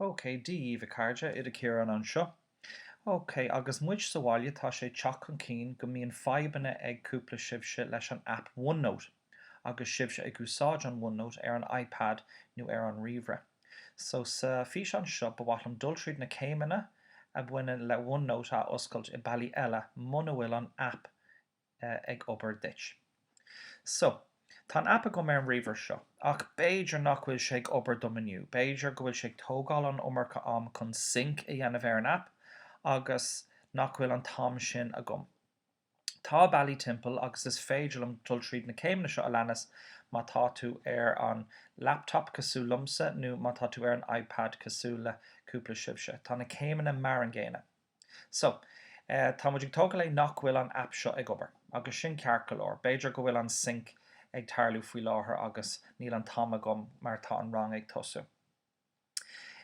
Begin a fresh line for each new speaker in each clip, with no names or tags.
OK, dia dhaoibh a chairde, Oide Ciarán anseo. OK, agus muid sa bhaile tá sé ag teacht chun cinn go mbíonn fadhbanna ag cúpla sibhse leis an aip OneNote agus sibhse ag úsáid an OneNote ar an iPad nó ar an ríomhaire. So sa físeán seo ba mhaith liom dul tríd na céimeanna a bhaineann le OneNote a oscailt i bealaí eile muna bhfuil an aip ag obair duit. So, tá an aip agam ar an ríomhaire seo, ach b'fhéidir nach bhfuil sé ag obair dom inniu, b'fhéidir go bhfuil sé ag tógáil an iomarca am chun sync a dhéanamh ar an aip agus nach bhfuil an t-am sin agam. Tá bealaí timpeall agus is féidir liom dul tríd na céimeanna seo a leanas má tá tú ar an laptop cosúil liomsa nó má tá tú ar an iPad cosúil le cúpla sibhse. Tá na céimeanna mar an gcéanna. So, tá muid ag tógáil é nach bhfuil an aip seo ag obair, agus sin ceart go leor. B'fhéidir go bhfuil an sync ag tarlú faoi láthair agus níl an t-am agam mar tá an rang ag tosú.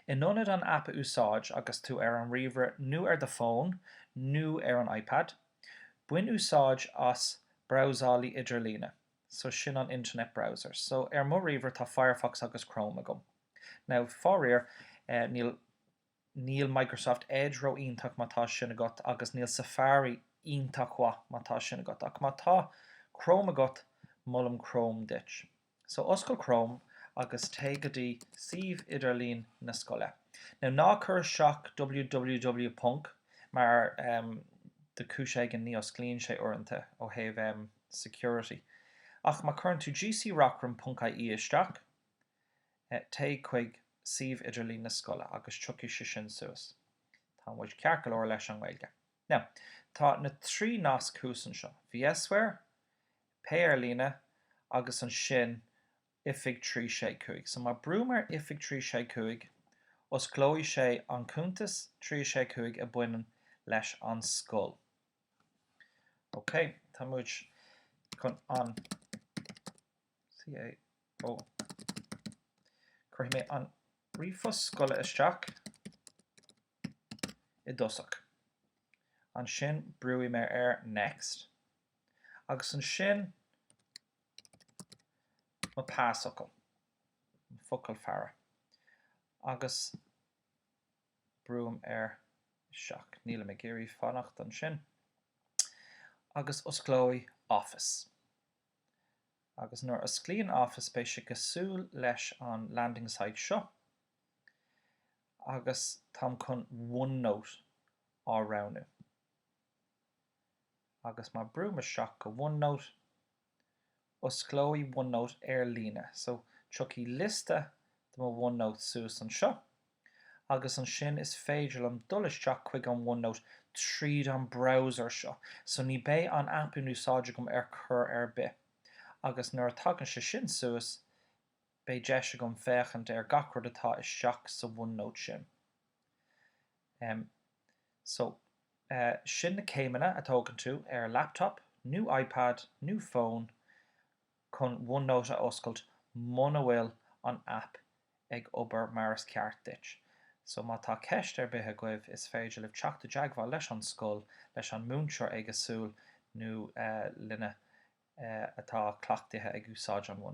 In ionad an aip a úsáid agus tú ar an ríomhaire nó ar do fón nó ar an iPad, bain úsáid as brabhsálaí idirlíne. So, sin an internet browser. So, ar mo ríomhaire tá Firefox agus Chrome agam. Now, faraor, níl. Níl Microsoft Edge ró-iontach má tá sin agat agus níl Safari iontach mhaith má tá sin agat. Ach má tá Chrome agat, molaim Chrome duit. So, oscail Chrome agus téigh go dtí suíomh idirlín na scoile. Now, ná cuir isteach www ponc mar em. de chúis éigin ní osclaíonn sé uaireanta ó thaobh em. security. Ach má cuireann tú gcreachrann ponc ie isteach, téigh chuig suíomh idirlín na scoile agus tiocfaidh sé sin suas. Tá muid ceart go leor leis an nGaeilge. Now, tá na trí nasc thuas anseo, VSware, Pay Ar Líne agus ansin Oifig 365. So má brúim ar Oifig 365, osclóidh sé an cuntas 365 a baineann leis an scoil. OK, tá muid chun an. CAO. Cuirfidh mé an ríomhphost scoile isteach i dtosach, ansin brúfaidh mé ar Next, agus ansin mo pasfhocal, mo focal faire, agus brúim ar Isteach. Nílim ag iarraidh fanacht ansin. Agus osclóidh Office. agus nuair osclaíonn Office beidh sé cosúil leis an Landing Site seo agus táim chun OneNote á roghnú agus má brúim isteach go OneNote osclóidh OneNote ar líne so tiocfaidh liosta de mo OneNotes suas anseo agus ansin is féidir liom dul isteach chuig an OneNote tríd an browser seo so ní beidh an app in úsáid agam ar chor ar bith agus nuair a tagann sé sin suas beidh deis agam féachaint ar gach rud atá isteach sa OneNote sin em so eh sin na céimeanna a tógann tú ar laptop nó ipad nó fón chun OneNote a oscailt muna bhfuil an aip ag obair mar is ceart duit. So má tá ceist ar bith agaibh is féidir libh teacht i dteagmháil leis an scoil, leis an múinteoir éagsúil nó linne atá cleachtaithe ag úsáid an OneNote.